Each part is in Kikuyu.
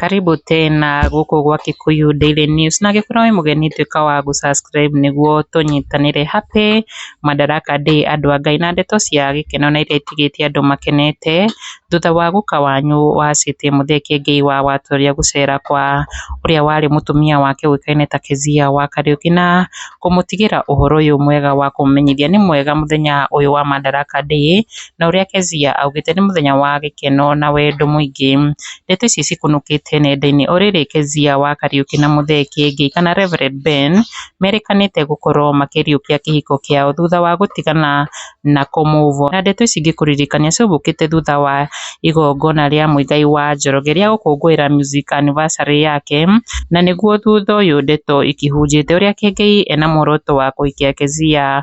Karibu tena gũkũ gwa Kikuyu Daily News na angĩkorwo wĩ mũgeni tuĩka wa gũ subscribe nĩguo tũnyitanĩre happy Madaraka Day andũ a Ngai na ndeto cia gĩkeno na iria itigĩtie andũ makenete Thutha wa gũka wanyu wa Seti, Mũtheke Ngei wa Watũria, gũcera kwa ũrĩa warĩ mũtumia wake ũĩkaine ta Kezia wa Kariũki na kũmũtigĩra ũhoro ũyũ mwega wa kũmũmenyithia nĩ mwega mũthenya ũyũ wa Madaraka Day, na ũrĩa Kezia augĩte nĩ mũthenya wa gĩkeno na wendo mũingĩ. Ndeto ici cikunũkĩte nenda-inĩ. O rĩrĩ Kezia wa Kariũki na Mũtheke Ngei kana Reverend Ben merĩkanĩte gũkorwo makĩriũkia kĩhiko kĩao thutha wa gũtigana na kũmũvooya. Na ndeto ici ingĩkũririkania ciaumũkĩte thutha wa igongona rĩa Muigai wa Njoroge rĩa gũkũngũĩra music anniversary yake, na nĩguo thutha ũyũ ndeto ikĩhunjĩte ũrĩa Kĩengei ena muoroto wa kũhikia Kezia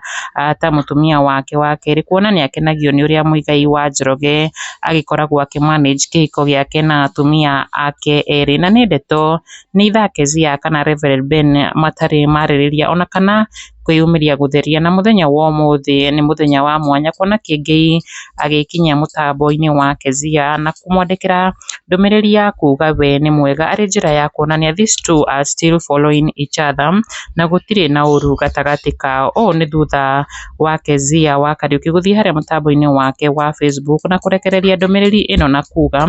ta mũtumia wake wa kerĩ, kuona nĩ akenagio nĩ ũrĩa Muigai wa Njoroge agĩkoragwo akĩ manage kĩhiko gĩake na atumia ake erĩ. Na nĩ ndeto nĩ either Kezia kana Reverend Ben matarĩ marĩrĩria ona kana... kwĩyumĩria gũtheria na mũthenya wa ũmũthĩ nĩ mũthenya wa mwanya kuona Kĩengei agĩkinyia mũtambo-inĩ wa Kezia na kũmwandĩkĩra ndũmĩrĩri ya kuuga we nĩ mwega arĩ njĩra ya kuonania these two are still following each other na gũtirĩ na ũru gatagatĩ kao. Ũũ nĩ thutha wa Kezia wa Kariuki gũthiĩ harĩa mũtambo-inĩ wake wa Facebook na kũrekereria ndũmĩrĩri ĩno na kuuga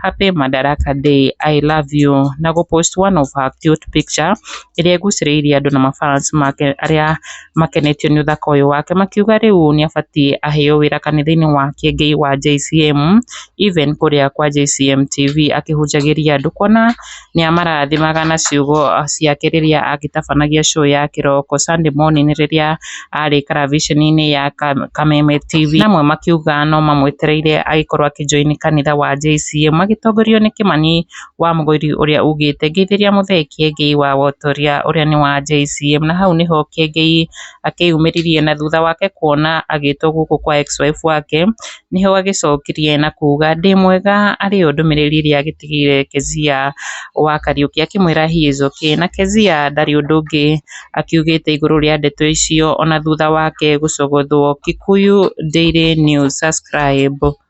happy Madaraka Day, I love you na gũ post one of her cute picture ĩrĩa ĩgucĩrĩirie andũ na ma fans make arĩa makenetio nĩ ũthaka ũyũ wake makiuga rĩu nĩ abatiĩ aheo wĩra kanitha-inĩ wa Kĩengei wa JCM even kũrĩa kwa JCM TV akĩhunjagĩria andũ kuona nĩ amarathimaga na ciugo ciake rĩrĩa agĩtabanagia show ya kĩroko Sunday morning rĩrĩa arĩ karaviceni-inĩ ya Kameme TV. Na amwe makiuga no mamwetereire agĩkorwo akĩ join kanitha wa JCM magĩtongorio nĩ Kĩmani wa mũgũri ũrĩa ugĩte ngeithĩria mũthee Kiengei wa Wotoria ũrĩa nĩ wa JCM, na hau nĩho Kiengei akĩyumĩririe na thutha wake kuona agĩtwo gũkũ kwa ex wife wake, nĩho agĩcokirie na kuga ndĩ mwega, arĩ yo ndũmĩrĩri ĩrĩa agĩtigĩire Kezia wa Kariũki akĩmwĩra he is okay, na Kezia ndarĩ ũndũ ũngĩ akiugĩte igũrũ rĩa ndeto icio ona thutha wake gũcogothwo. Kikuyu Daily News Subscribe.